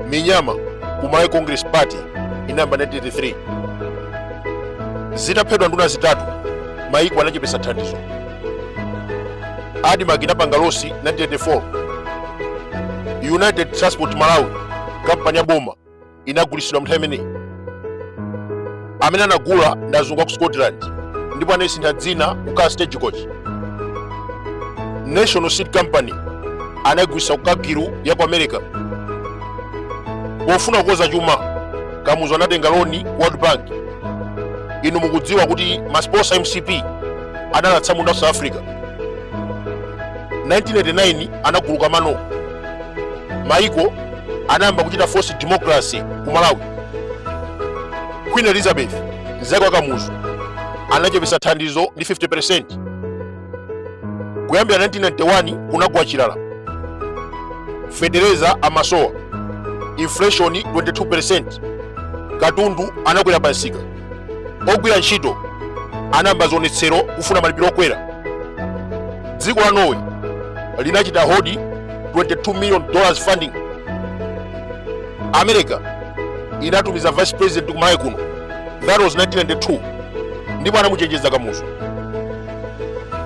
minyama ku malawi congress party inayamba 1983 zitaphedwa nduna zitatu maiko anachepesa thandizo admarc inapanga losi 1984 united transport malawi kampani ya boma inagulitsidwa mnthawi imeneyi amene anagula ndi azungu a ku scotland ndipo anayisintha dzina kukhala stagecoach national seed company anayigulitsa ku cargill ya ku america pofuna kukoza chuma kamuzu anatenga loni world bank inu mukudziwa kuti masiponsa a mcp anali atsamunda a ku south africa 1989 anaguluka mano maiko anayamba kuchita force democracy ku malawi queen elizabeth mzake wa kamuzu anachepesa thandizo ndi 50 kuyambira 1991 kunagwa chilala fetereza amasowa inflation 22 katundu anakwera pansika ogwira ntchito anayamba zionetsero kufuna malipiro okwera dziko la norway linachita hold 22 million dollars funding america inatumiza vice president ku malawi kuno that was 1992 ndipo anamuchenjeza kamuzu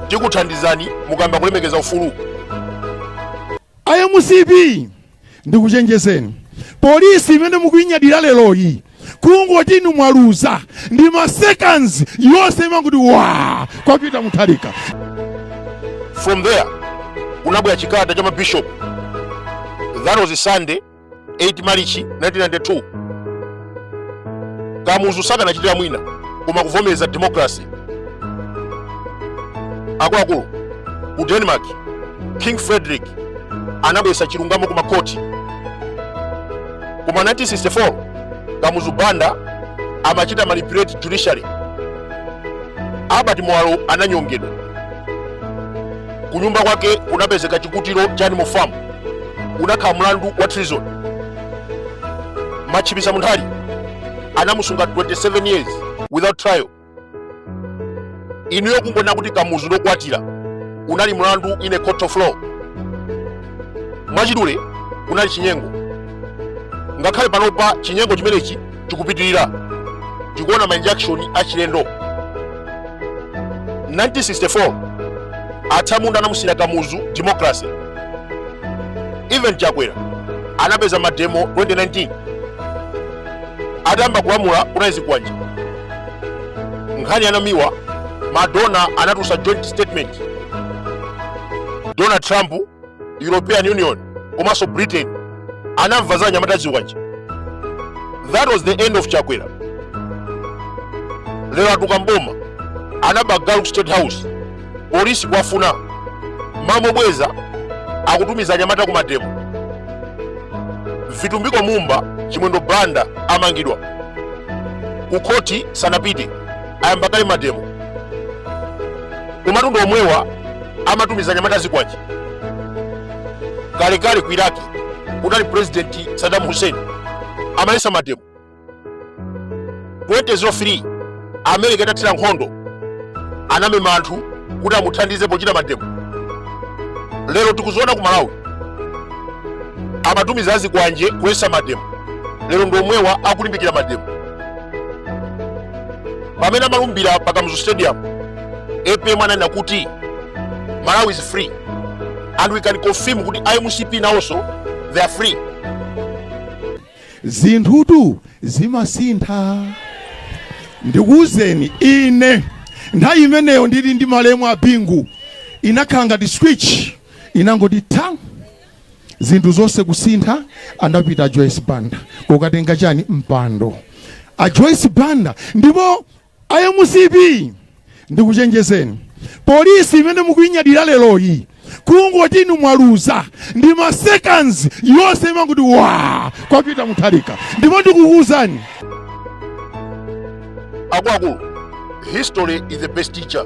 tikuthandizani mukayamba kulemekeza ufulu a mcp ndikuchenjezeni polisi imene mukuinyadira leroyi kungoti inu mwaluza ndi ma seconds yonse imangoti wa kwa peter mutharika from there kunabwera chikalata cha mabishop that was sunday 8 marichi 1992 kamuzu sakanachitira mwina koma kuvomereza democracy akuluakulu ku denmark king frederick anabwesa chilungamo ku makoti koma 1964 kamuzu banda amachita manipulate judiciary albert muwalo ananyongedwa kunyumba kwake kunapezeka chikutiro cha animal farm unakhala mlandu wa treason machipisa munthali anamusunga 27 years without trial inuyo kungonena kuti kamuzu ndi wokwatira unali mlandu in a court of law mwachidule kunali chinyengo ngakhale panopa chinyengo chimenechi chikupitirira tikuona ma injunction achilendo 1964 atsamunda anamusiyira kamuzu democracy even chakwera anapeza mademo 2019 atayamba kulamula kunali zikwanje nkhani ya namiwa ma donor anatulutsa joint statement donald trump european union komanso britain anamva za anyamata azikwanje that was the end of chakwera lero atuka mboma anaba galu ku state house polisi kuwafuna mwamobweza akutumiza anyamata ku mademo vitumbiko mumba chimwendo banda amangidwa kukhoti sanapite ayamba kale mademo kumatundu omwewa amatumiza anyamata azikwanje kalekale ku iraki kunali purezidenti sadamu hussein amaletsa mademo 2003 america itathira nkhondo anamema anthu kuti amuthandize pochita mademo lero tikuziona ku malawi amatumiza azikwanje kuletsa mademo lero ndi omwewa akulimbikira mademo pamene amalumbira pa kamuzu stadium apm ananena kuti malawi is free and we can confirm kuti a mcp nawonso they are free zinthutu zimasintha ndikuwuzeni ine nthawi imeneyo ndili ndi malemu a bingu inakhala ngati switch inangoti ta zinthu zonse kusintha anapita a joyce banda kukatenga chani mpando a joyce banda ndipo a mcp ndikuchenjezeni polisi imene mukuinyadira leroyi kungoti inu mwaluza ndi ma seconds yonse imangoti wa kwa Peter Mutharika ndipo ndikukuwuzani akuluakulu history is the best teacher